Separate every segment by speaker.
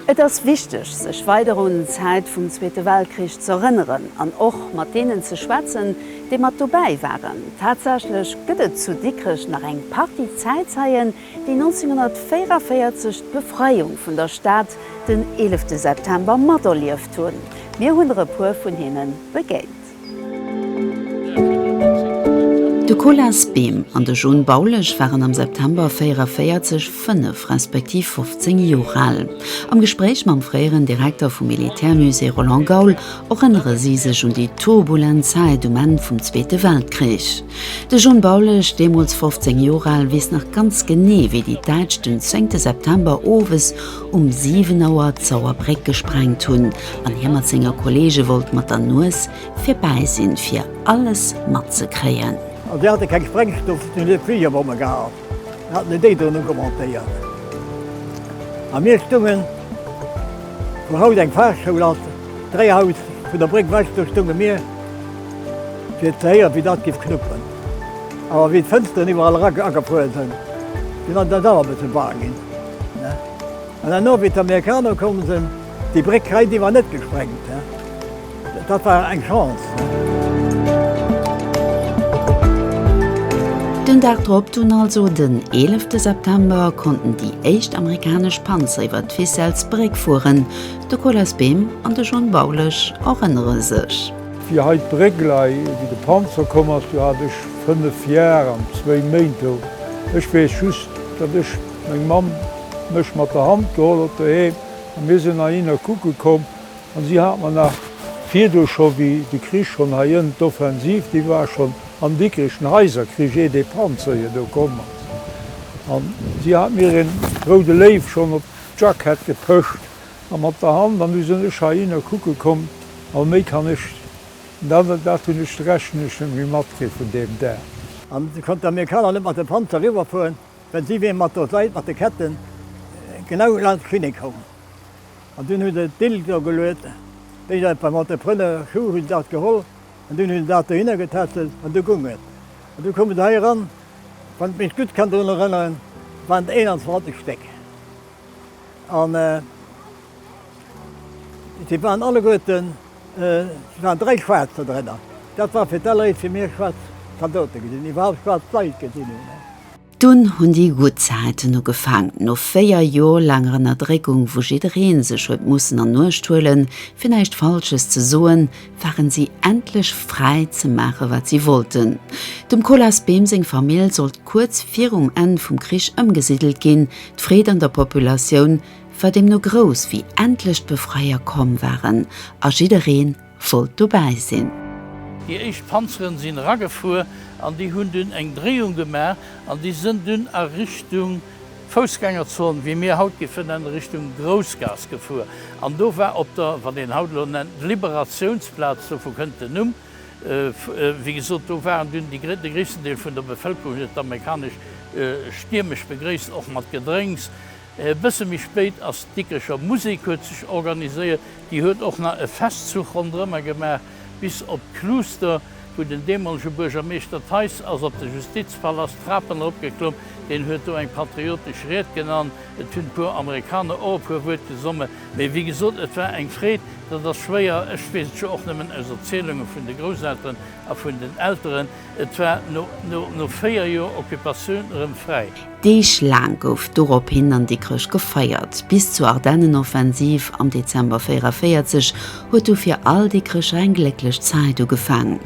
Speaker 1: Et ass wichteg, sech weider un d'Zäit vum Zweete Weltkrich z'erënneren an och mat deenen ze schwätzen, déi mat dobäi waren. Tatsächlech gëtt et zu Dikrech nach eng Partie Zäitzeien, déi 1944 d'Befreiung vun der Stad den 11 September materlieft hunn. Mir hunn der e puer vun hinne begéint. De Colas Behm an de John Baulesch waren am September 1944 fënnef respektiv 15 Joer al. Am Gespréich mam fréieren Direkter vum Militärmusée Roland Gaul erënnere si sech un déi turbulent Zäit um Enn vum Zweete Weltkrich. De John Baulesch, deemools 15 Joer al, weess nach ganz genee, wéi déi Däitsch den 10 September owes um 7 Auer d'Sauerbréck gesprengt hunn an hie mat senger Kolleege wollt mat der Nues virbäi sinn, fir alles matzekréien. A si hate keng
Speaker 2: Sprengstoff, si hunn Fligerbomme gehat, haten déi déi drënn ugemontéiert. A mir stungen, wou haut eng Fahrschoul ass, dräi Haus vun der Bréck wech, do stunge mir, fir ze héieren, wéi dat géif knuppen. Awer wéi d'Fënsteren iwwerall era agefuer sinn, sinn eis eis awer e bësse bang ginn. An dann och wéi d'Amerikaner komm sinn, déi Bréck hei, déi war net gesprengt. Dat war eng Chance.
Speaker 1: Den Dag drop, dunn also den 11 September, konnten déi éischt amerikanesch Panzer iwwer d'Ficelles Bréck fueren. De Colas Behm an de John Baulech erënnere sech. Fir hei d'Bréck
Speaker 3: lei, wéi de Panzer komm ass, do hat ech 5 Jar an zwéi Méint do. Ech weess just, datt ech Meng Mamm huet mech mat der Hand geholl op de Heem a mir sinn heihinner kucke komm. An si hat mer nach virdu scho, wéi de Krich schonn heiënt, d'Offensiv, déi war schonn am Dikrich, den Häiserkrich, ier dee Panzer hier do komm ass, an si hat mir een Roude Léiw schonn op d'Jackett gepëscht a mat der Hand. An du sinn ech heihinner kucke komm a méi kann ech, dat dat hunn ech, rechnen ech, net méi matkritt vun deem Dag. An du konnt
Speaker 2: d'Amerikaner net mat de Panzer eriwwer fueren. Well si wier mat der Seit, mat de Ketten, genau laanscht d'Klinik komm. An dunn hu se d'Bild do geluet, wéi dat beim Entrepreneur Schuh, hu se dat geholl an dunn hu se dat dohinner getätschelt an du gung et. An du koumen se hei eran, wann ech mech gutt kann drun erënneren, waren et 21 Stéck. An si waren alleguerten, et waren dräi Schwaarz do drënner. Dat war fir d'alleréischt fir mir schwaarz Zaldote gesinn, déi iwwerhaapt schwaarz Leit gesinn hunn. Dunn
Speaker 1: hunn déi gutt Zäiten ugefaangen. No véier Jor laanger Ënnerdréckung, wou jiddereen sech huet mussen an Uecht huelen, fir näischt Falsches ze soen, waren si endlech fräi ze maachen, wat si wollten. Dem Colas Behm seng Famill sollt kuerz virum Enn vum Krich ëmgesiddelt ginn. D'Freed an der Populatioun war deemno grouss, wéi endlech d'Befreier komm waren a jiddereen, wollt dobäi sinn. Déi éischt
Speaker 4: Panzeren sinn eragefuer an déi hunn dunn eng Dréiung gemaach an déi sënn dunn a Richtung Foussgängerzon, wéi mir haut géife nennen, Richtung Groussgaass gefuer. An do war op der, wat een haut elo nennt, Liberatiounsplaz, dovu kënnt den Numm, wéi gesot, do waren dunn déi, de gréissten Deel vun der Bevëlkerung huet d'amerikanesch stiermesch begréisst, och mat Gedrénks. E bësse méi spéit ass d'Dikricher Musek huet sech organiséiert. Déi huet och nach e Festzuch ronderëmmer gemaach bis op d'Kluuster, wou den deemolege Buergermeeschter Theis ass op de Justizpalast d'Trapen erop geklomm. Deen huet do eng patriotesch Ried gen an et hunn puer Amerikaner och e puer Wuert gesomme. Mee wéi gesot, et war eng Freed. Dat ass schwéier, ech weess et jo och nëmmen aus Erzielunge vun de Grousselteren a vun den Elteren. Et war no véier Joer Occupatioun erëm fräi. Deeg laang
Speaker 1: gouf dorophin an Dikrech gefeiert. Bis zur Ardennenoffensiv am Dezember 44 huet du fir all Dikrecher eng glécklech Zäit ugefaang.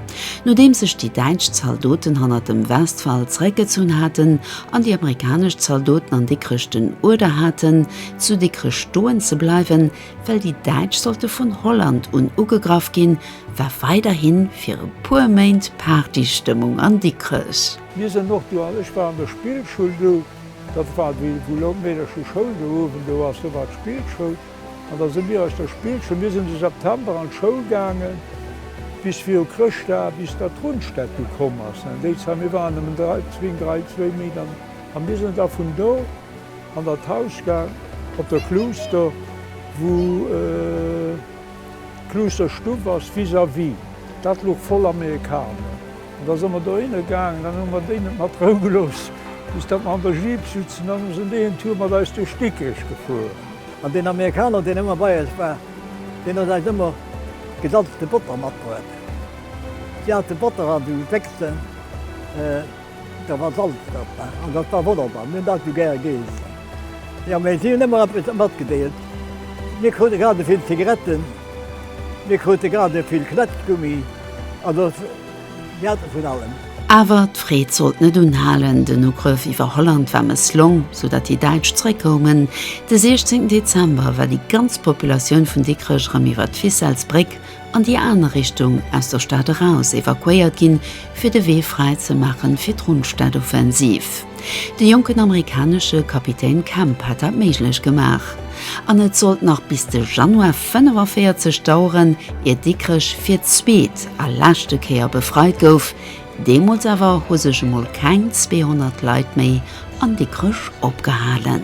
Speaker 1: Nodeems sech déi däitsch Zaldoten hannert dem Westwall zeréckgezunn haten an déi amerikanesch Zaldoten an Dikrech den Uerder haten, zu Dikrech stoen ze bleiwen, Well déi Däitsch sollte vun Holland un ugegraff ginn, war weiderhi fir e puer Méint Partystëmmung an Dikrech. Mir sinn och do,
Speaker 3: ech war an der Spillschoul do, dat war déi, wou laut Meedercher Schoul do uewen do ass, do war d'Spillschoul, an da si mir aus der Spillschoul, mir sinn de September an d'Schoul gaange bis viru Chrëschtdag, bis da d'Rundstad du komm ass. Déi Zäit, mir waren nëmmen dräi, zwéin, dräi, zwéi Méint, an mir sinn da vun do, An der Tauschgare op der Kluuster, wou d'Kluusterstuff ass, vis-à-vis, dat luch voll Amerikaner. An da se mer dohinner gaangen, dann hu mer déi net mat Rou gelooss, bis datt mer an der Jeep sutzen. Dann hu se déi en Tour mat eis duerch Dikrech gefuer. An deen
Speaker 2: Amerikaner, deen ëmmer bei eis war, deen huet eis ëmmer gesalzte Botter matbruet. Si hate Botter an de Wéchsen. Da war Salz drop an dat war wonnerbar. Mir hunn dat esou gär geessen. Jo, mä si hunn ëmmer eppes matgedeelt. Mir krute grad esouvill Zigaretten, mir krute grad esouvill Knätschgummi, also mir hate vun allem. Awer d'Freed
Speaker 1: sollt net unhalen. Den Ugrëff iwwer Holland war mësslong, sou datt déi Däitsch zeréckkoumen. De 16 Dezember war déi ganz Populatioun vun Dikrech erëm iwwer d'Ficelles-Bréck an déi aner Richtung aus der Stad eraus evakuéiert ginn, fir de Wee fräi ze maachen fir d'Rundstad-Offensiv. De jonken amerikanesche Kapitän Camp hat dat méiglech gemaach. An et sollt nach bis de Januar 45 daueren, ier Dikrech fir d'zweet a leschte Kéier befreit gouf. Deemools awer hu sech emol keng 200 Leit méi an Dikrech opgehalen.